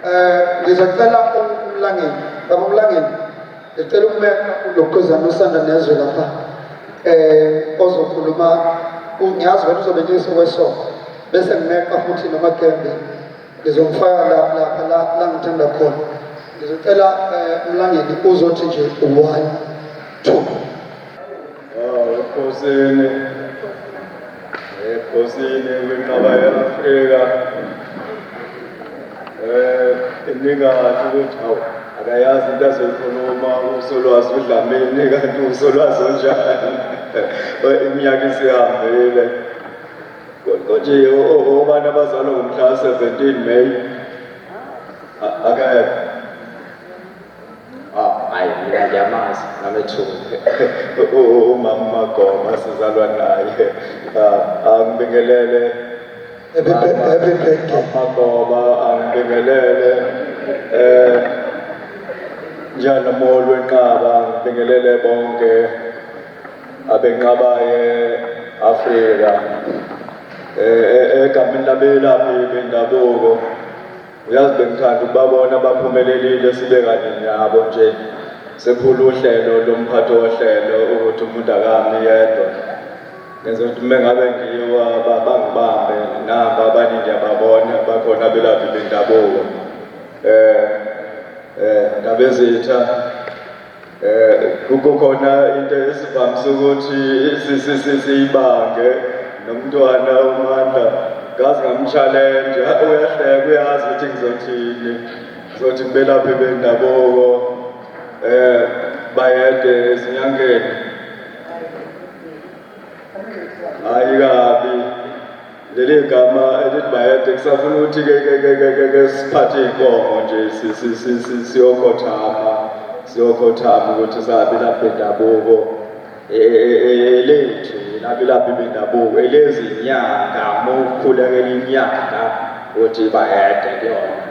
Eh ngizocela umlangeni, baba umlangeni. Ngicela ukumela ulokhuzana usanda nezwe lapha. Eh ozokhuluma ungiyazi wena uzobe ngiso kwesonto. Bese ngimeqa futhi nomagembe. Ngizomfaka la lapha la la ngithanda khona. Ngizocela eh umlangeni uzothi nje one two ekhosini ekhosini kwinqaba ye-afrika um inikathi ukuthi hawu akayazi into azoyikhuluma usolwazi udlamini kanti usolwazi onjani iminyaka isihambile konje obani abazalwa ngomhla ka-17 may akekho hayi mina ngiyamazi ngamethungu umama magoma sizalwa naye angibingelele magoma angibingelele um njani molo wenqaba ngibingelele bonke abenqabaye afrika um egameni labelaphi bendabuko Uyazi bengithanda ukubabona abaphumelelile sibe kanye nabo nje sephula uhlelo lomphathi wohlelo ukuthi umuntu akami yedwa ngenza ukuthi uma ngabe ngiwa bangibambe nabo abanye ngiyababona bakhona abelaphi bendabuko um um ndabezitha um kukhona into esivamise ukuthi siyibange nomntwana umandla ngazi ngamshalenje uyahleka uyazi ukuthi ngizothini ngizothi ngibelaphi bendabuko um bayede ezinyangeni hhayi kabi leli gama elithi bayede kusafuna ukuthi ke siphathe iy'nkomo nje siyokhothama siyokhothama ukuthi sabi lapha endabuko e, e, e, elethu nabilaphi bendabuko elezinyanga mokhulekela inyanga ukuthi bayede kuyona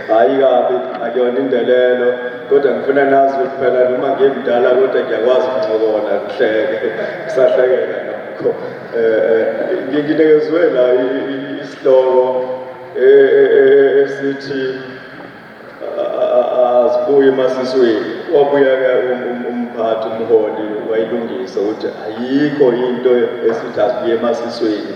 hayi kabi akuyona indelelo kodwa ngifuna nazi ukuthi phela noma ngimdala kodwa ngiyakwazi ukuncokola ngihleke kusahlekeka nokho um eh, eh, nginikezwe la isihloko e, e, e, esithi azibuye emasisweni wabuya-ke um, um, umphathi umholi wayilungisa ukuthi ayikho into esithi azibuye emasisweni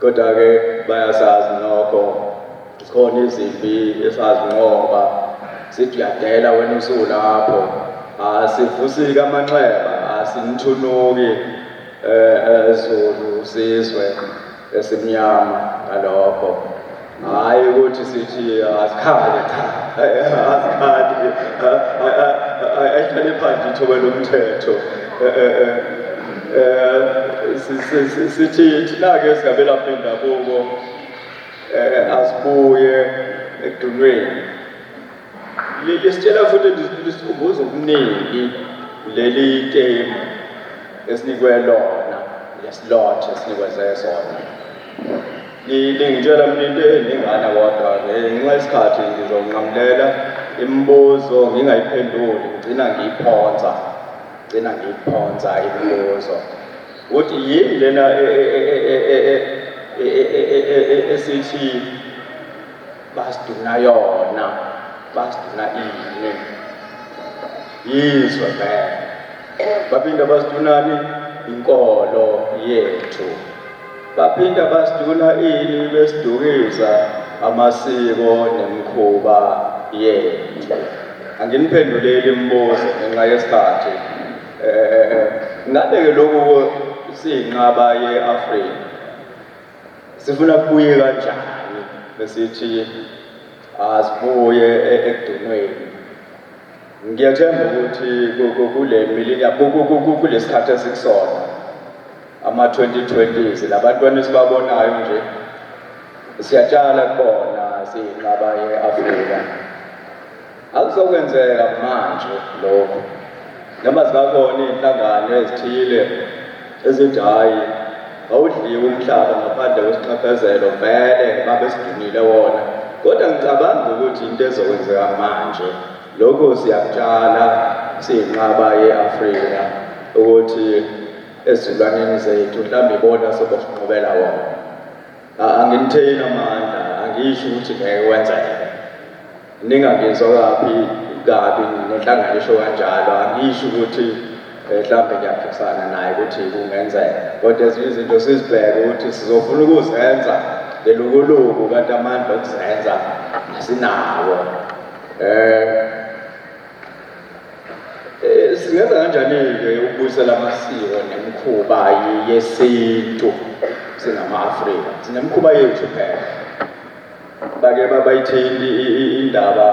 Kodwa-ke bayasazi nokho zikhona izimpi esazinqoba sithi uyadela wena usulapho asivusiki amanxeba asinithunuki ezulu eh, eh, sizwe esimnyama ngalokho Hhayi ukuthi sithi asikhale cha asikhali ayihlale phansi ithoba lomthetho um sithi thina-ke singabelaphi bendabuko um asibuye ekudunweni Leli sitshela futhi lisikhumbuza okuningi leli temu esinikwe lona lesilot esinikweze sona lingitshela mina into eningana kodwa ngenxa yesikhathi ngizonqamulela imibuzo ngingayiphenduli ngigcina ngiyiphonsa gcina ngiyiphonsa imibuzo ukuthi yini lena esithi basiduna yona basiduna ini yizwe vele baphinde basidunani inkolo yethu baphinde basiduna ini besidukiza amasiko nemikhuba yethu anginiphenduleli imibuzo ngenxa yesikhathi um ngabe-ke lokhu siyinqaba ye-afrika Sifuna kubuye kanjani besithi asibuye e, ekudunweni. Ngiyathemba ukuthi kule milinya kulesikhathi esikusona ama-2020s labantwana esibabonayo nje siyatshala kubona siyinqaba ye-Afrika Akuzokwenzeka manje lokho noma zingakona iy'nhlangano ezithile ezithi hhayi awudliwe umhlaba ngaphandle kwesiqaphezelo vele babesidumile wona kodwa ngicabanga ukuthi into ezokwenzeka manje lokho siyakutshala siyinqaba ye-afrika ukuthi ezilwaneni zethu mhlawumbe ibona sobosinqobela wona anginitheyini amandla angisho ukuthi ngeke wenzeke Ningangizwa kabi kabi ngenhlangano esho kanjalo angisho ukuthi eh, mhlawumbe ngiyaphikisana naye ukuthi kungenzeka kodwa ezinye izinto sizibheke ukuthi sizofuna ukuzenza lelukuluku kanti amandla okuzenza asinawo eh, eh singenza kanjani-ke ukubuyisela amasiko nemikhuba yesintu singama-afrika sinemikhuba yethu phela bake babayithinti indaba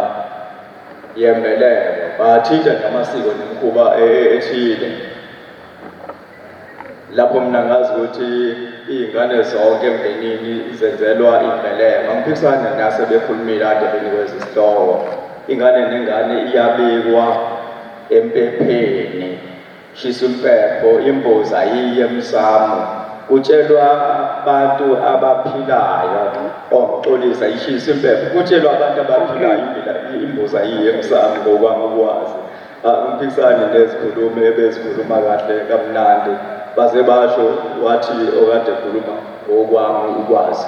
yembeleko bathinta namasiko nemikhuba e, e, ethile lapho mina ngazi ukuthi iy'ngane zonke emndenini zenzelwa imbeleko angiphikisani nase bekhulumile ade benikweza isihloko ingane nengane iyabikwa empepheni Shisa impepho imbuzi ayiyi emsamo kutshelwa abantu abaphilayo ongicolisa ishisa impepho kutshelwa abantu abaphilayo imbuzi ayiyi emsamo ngokwami ukwazi angiphikisani ah, nezikhulumi ebezikhuluma kahle kamnandi baze basho wathi okade ekhuluma ngokwami ukwazi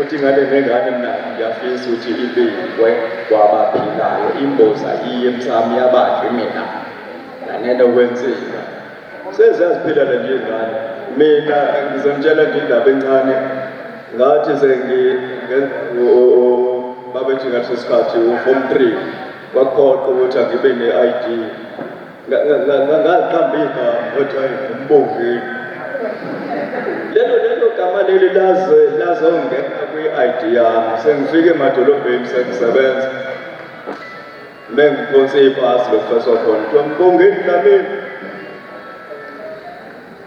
Uthi ngane nengane mina ngiyafisa ukuthi ibikwe kwabaphilayo imboza iye emsamo yabadli mina nganena okwenzeka seziyaziphilela nje ingane mina ngizomtshela nje indaba encane ngathi sengi babethi ngaleso sikhathi u-form three kwakuphoqa ukuthi angibe ne-i d ngaliqambika ojayi umbongeni lelo lelo gama leli laze lazongena kwi-id yami sengifike emadolobheni sengisebenza mengiphonse ibhasi lokufeswa khona kuthiwa mbongeni dlamini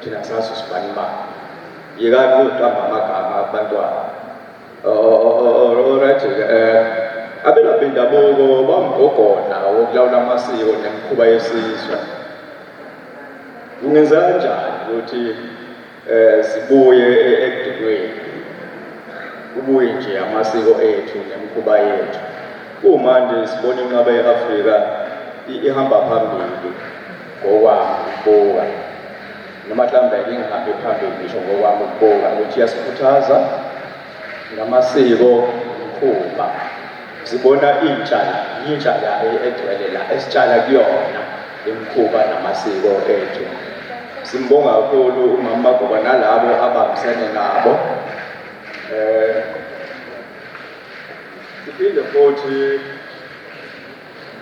Thina sazi usibani imali. Yekani ukuqamba amagama abantwana. Alright, eh abelaphi bendabuko bamgogona wokulawula amasiko nemikhuba yesizwe. Kungenza kanjani ukuthi eh sibuye e-, ekudinweni? Kubuye nje amasiko ethu nemikhuba yethu. Kumanje sibona inqaba ye-Afrika ihamba phambili. ngokwami ukubuka noma mhlawumbe ngingahambi phambili ngisho ngokwami ukubuka ukuthi iyasikhuthaza ngamasiko mkhuba sibona intsha yintsha la egcwele la esitshala kuyona imikhuba namasiko ethu simbonga kakhulu umama magoba nalabo abambisene nabo um siphinde futhi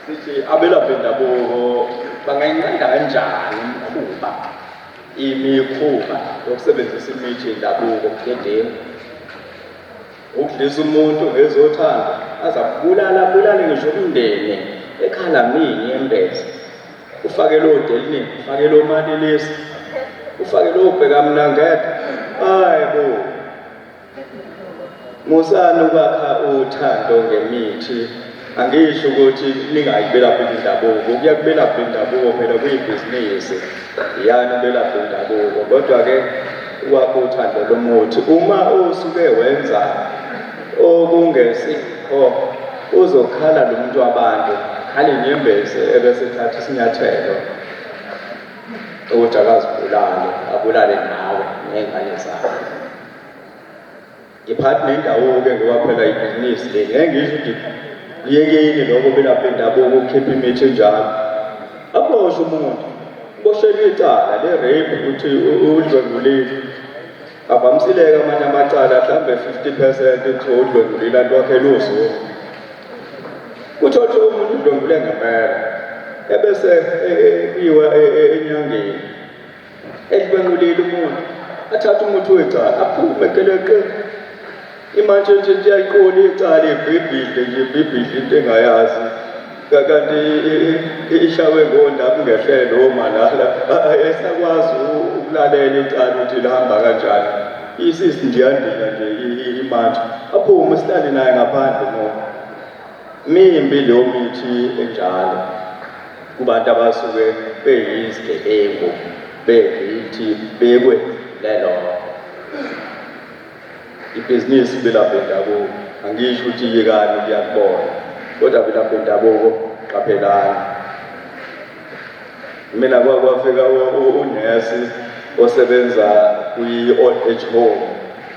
sithi abelaphi bendabuko bangayinqanda kanjani imikhuba imikhuba yokusebenzisa imithi yendabuko budedengu ukudlisa umuntu ngezothando aza kubulala bulale ngisho umndeni ekhala mini embese ufake lowo delinin ufake lowo manelesi ufake lowo bhekamnangede hayi bo Musani ukwakha uthando ngemithi angisho ukuthi ningayibelaphi indabuko kuya kubelaphi indabuko phela kuyibhizinisi yani ubelaphi indabuko kodwa-ke ukwakha uthando lomuthi uma usuke wenza okungesikho uzokhala lo muntu wabantu khale inyembezi ebesethatha isinyathelo ukuthi akazibulale abulale nawe ney'ngane zakhe ngiphathi nendawo-ke ngoba phela ibhizinisi le ngeke ngizwe ukuthi kuyekeni lokho belapha indabuko ukhipha imithi enjalo aboshwe umuntu uboshelwe icala le-rape ukuthi udlwengulile avamisileke amanye amacala mhlawumbe 50 percent kuthiwa udlwengulile alwakhe luzulu kuthothi umuntu udlwengule ngempela ebese kuyiwa e, e, e, enyangeni Edlwengulile umuntu athatha umuthi wecala aphume geleqe imantshi nje iyayiqola icala ibhibhidle nje ibhibhidle into engayazi kanti ishawe ngonda kungehlele omalala esakwazi ukulalela icala ukuthi lihamba kanjani isisi nje yandika nje imantshi aphume sihlale naye ngaphandle ngoba Mimbi leyo mithi enjalo kubantu abasuke beyizigebengu beyithi bekwe lelo ibhizinisi belapha bendabuko angisho ukuthi yekani kuyakubona kodwa belapha bendabuko qaphelani mina kwakwafika unesi osebenza kwi-old age home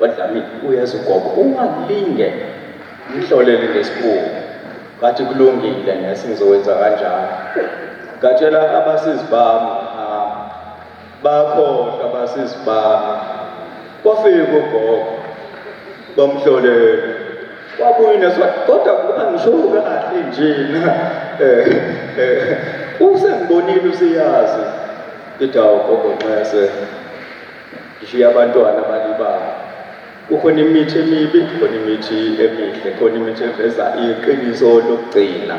Badlamini uyazi ugogo ungalinge ngihlolele ngesibungu ngathi kulungile ngesi ngizowenza kanjalo ngatshela abasizi bami bakhohlwa abasizi bami kwafika ugogo bamhlolele wabuye neswa kodwa kuba ngisho kahle nje na eh, eh, usengibonile usiyazi idawo gogo nxese Ngishiya abantwana balibala. Kukhona imithi emibi, kukhona imithi emihle, khona imithi eveza iqiniso lokugcina.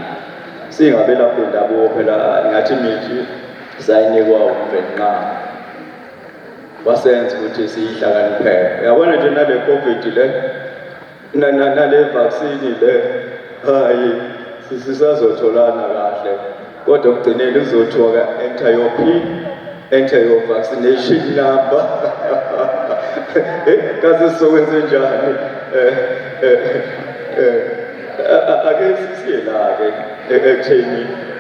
Singabelaphi ndabuko phela ngathi imithi sayinikwa umvenqama. Wasenza ukuthi siyihlakaniphele. Uyabona nje nale COVID le Na na na le vaccine le hayi sisazotholana kahle kodwa kugcineni uzothiwa ka enter your pin enter your vaccination number kaze sizokwenze njani eh, eh, eh, ake sisiyelake ekutheni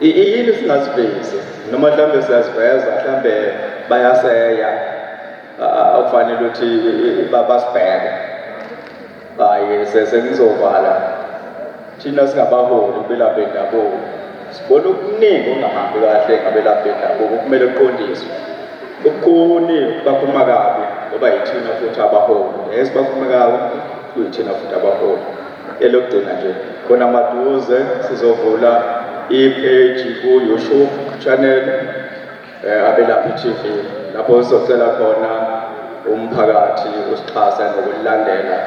Yini singazivezi noma mhlawumbe siyaziveza mhlawumbe bayaseya akufanele ukuthi basibheke hayi senizovala thina singabaholi belaphi bendabuko sibona okuningi ongahambi kahle ngabelaphi bendabuko kumele kuqondiswe kukhuni bakhuluma kabi ngoba yithina futhi abaholi yes bakhuluma kabi kuyithina futhi abaholi Elokugcina nje khona maduze sizovula i-page ku-YouTube channel eh, Abelaphi TV lapho sizocela khona umphakathi usixhasa ngokulandela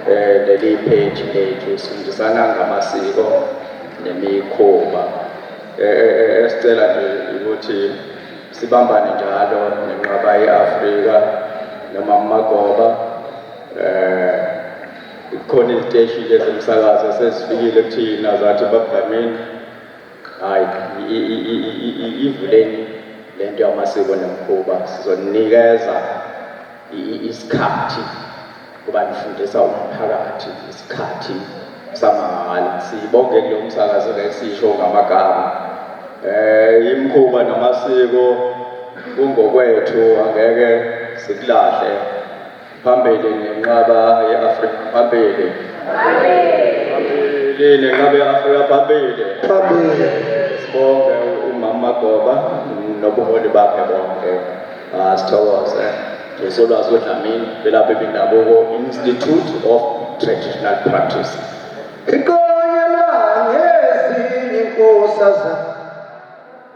eh, leli page lethu sifundisana ngamasiko nemikhuba eh, eh, esicela nje ukuthi sibambane njalo nenqaba ye-Afrika noma amagoba eh Kukhona iziteshi nje zomsakazo esezifikile kuthina zathi bakugameni hhayi ivuleni le nto yamasiko nemikhuba sizoninikeza isikhathi kuba nifundisa umphakathi isikhathi samahhala siyibonge kulo msakazo lesisho ngamagama um imikhuba namasiko kungokwethu angeke sikulahle Phambili nenqaba ye-Afrika phambili. Phambili nenqaba ye-Afrika phambili. Phambili. Sibonge umama Goba nobuholi bakhe bonke. Ah sithokoze. Ngisolwazi uDlamini belapha ebendabuko Institute of Traditional Practice. Iqonyela ngezinye inkosazana